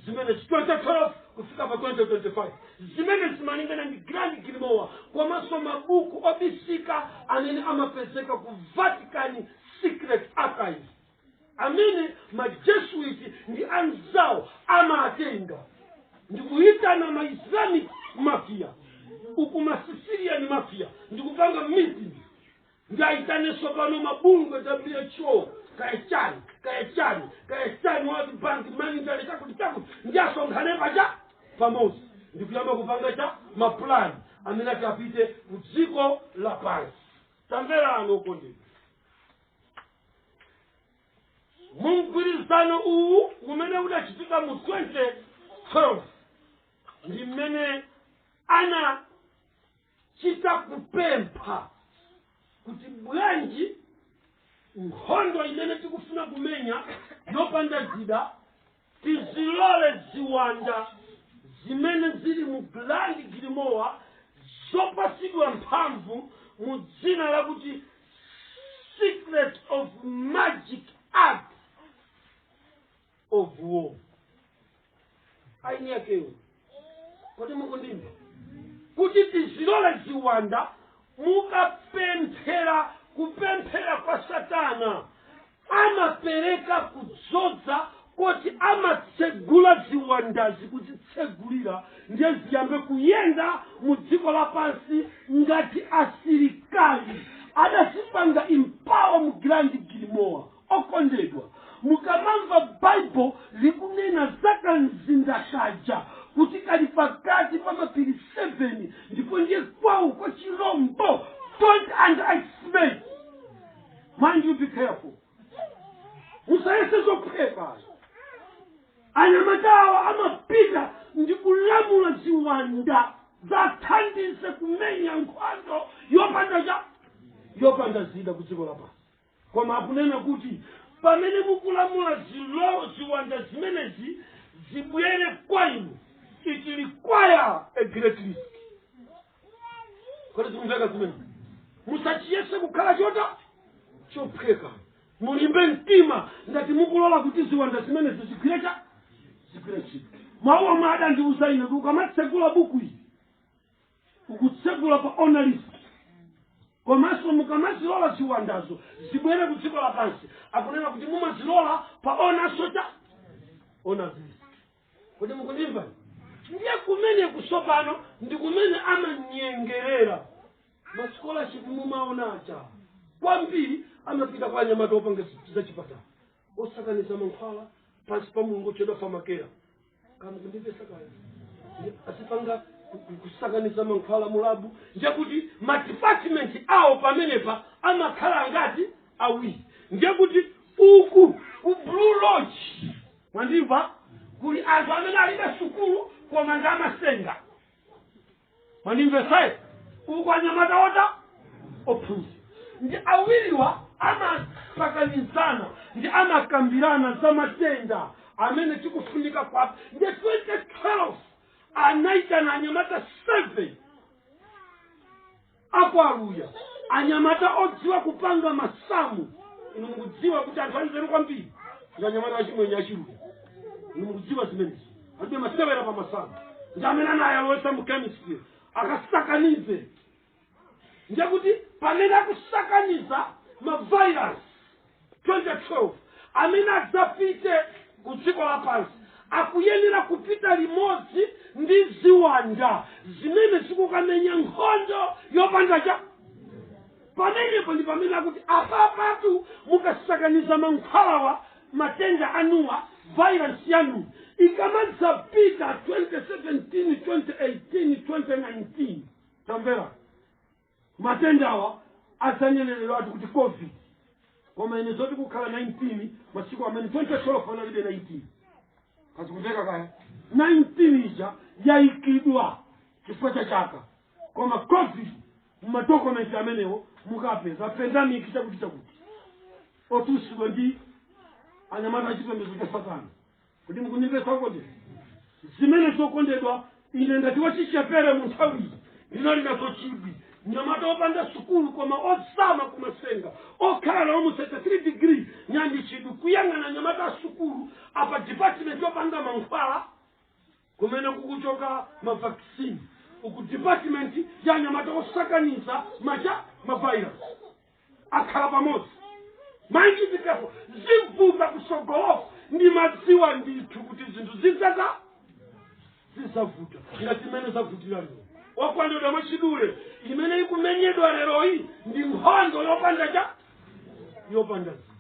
S2: zimene 2012 kufika pa 2025 zimene zimalingana ndi Grand Grimoire komanso mabuku obisika amene amapezeka ku vatican secret archives amene majesuiti ndi anzawo amatenga ndikuyitana ma islamic mafia uku ma sicilian mafia ndikupanga meeting ndi aitanenso pano mabungwe who kaya chani kaya chani kaya chani world bank monetary chakuti chakuti ndi asonkhane pacha pamodzi ndikuyamba kupanga cha mapulani amene ati apite, ku dziko lapansi tamverani okondedwa mu mgwirizano uwu umene udachitika mu 2012 ndi mmene anachita kupempha kuti bwanji nkhondo imene tikufuna kumenya yopanda zida Tizilole ziwanda zimene zili mu Grand Grimoire zopatsidwa mphamvu mu dzina lakuti Secret of Magic Art of War. Aini yakewo kodi mukundimva kuti tizilole ziwanda mukapemphera kupemphera kwa satana amapereka kudzoza koti amatsegula ziwandazi kuzitsegulira ndiye ziyambe kuyenda mu dziko lapansi ngati asilikali adazipanga empower mu Grand Grimoire Okondedwa, mukamamva Bible likunena za kamzinda kaja kuti kali pakati pa mapiri 7 ndipo ndiye kwawo kwa chilombo don't underestimate mind you be careful musayese zophweka anyamatawa amapita ndi kulamula ziwanda zathandize kumenya nkhondo yopanda cha yopanda zida ku dziko lapansi koma akunena kuti pamene mukulamula ziwanda zimenezi zibwere kwa inu it require a great risk kodi zikumveka zimene musachiyese kukhala chota chophweka mulimbe mtima ngati mukulola kuti ziwanda zimenezi zigwire cha zigwire ntchito mawu omwe adandiuza ine kuti ukamatsekula buku ili ukutsegula pa owner's risk komanso mukamazilola ziwandazo zibwere ku dziko lapansi akunena kuti mumazilola pa owner's cha owner's risk kodi mukundimva ndiye kumeneku tsopano ndi kumene amanyengerera masikolashipu mumaona aja kwambiri amapita kwa anyamata opanga zachipatala osakaniza mankhwala pansi pa mulungu otchedwa pharmakeia kaya mukundimvetsa kaya azipanga kusakaniza mankhwala mu labu ndiye kuti madepartment awo pamenepa amakhala ngati awiri ndiye kuti uku ku blue lodge mwandimva kuli anthu amene alibe sukulu koma ndi amatsenga mwandimvetsa ayi uku anyamata ota ophunzira ndiye awiriwa amasakanizana ndiye amakambirana za matenda amene tikufunika kwa ndiye 2012 anaitana anyamata 7 apo Aluya anyamata odziwa kupanga masamu inu mukudziwa kuti anthu anzeru kwambiri ndi anyamata achimwenye achiluya inu mukudziwa zimenezi alibe masewera pa masamu ndi amene anayalowesa mu chemistry akasakanize ndiye kuti pamene akusakaniza mavirus 2012 amene adzapite ku dziko lapansi akuyenera kupita limodzi ndi ziwanda zimene zikukamenya nkhondo yopanda chida pamenepo ndi pamene akuti apapatu mukasakaniza mankhwalawa matenda anuwa virus yanu ikamadzapita 2017 2018 2019 tamvera Matendawa adzaneneratu kuti Covid koma ine zoti kukhala 19 masiku amene 2012 analibe 19 kaya zikumveka kaya 19 ija yaikidwa chifukwa cha chaka koma Covid mumadokumenti amenewo mukapeza pandemic chakuti chakuti otulusidwa ndi anyamata achipembedzo cha satana kuti mukundimvetsa kodi zimene zokondedwa ine ngati wachichepere mu nthawiyi ndinali nazo chidwi mnyamata opanda sukulu koma ozama kumasenga okhala nawo mu 33 degree ndinali ndi chidwi kuyang'ana anyamata a sukulu apa department yopanga mankhwala Kumene kukuchoka ma vaccine uku department ya anyamata osakaniza macha ma virus akhala pamodzi mind you be careful zivuta kutsogoloku ndimadziwa ndithu kuti zinthu zidza zidzavuta ngati mmene zavutira lero okondedwa mwachidule imene ikumenyedwa leroyi ndi nkhondo yopanda chida yopanda zida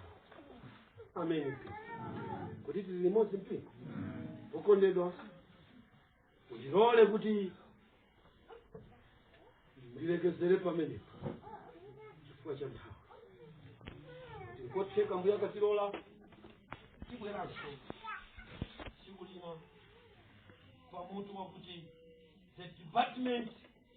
S2: ameni kuti tili limodzi mpingo okondedwa mundilole kuti ndilekezere pamenepo chifukwa cha nthawi ndikotheka mbuye akatilola tibweranso tsiku lina pamutu wakuti the department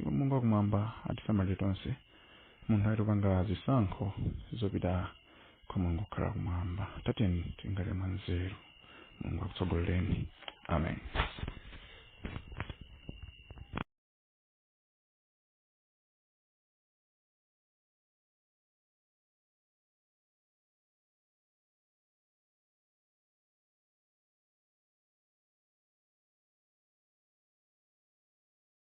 S3: iwo mulungu wakumwamba atisamalire tonse muntha yotipanga zisankho zopita kwa mulungu kukhala kumwamba tatiyeni tikhale mwa nzeru mulungu akutsogolereni amen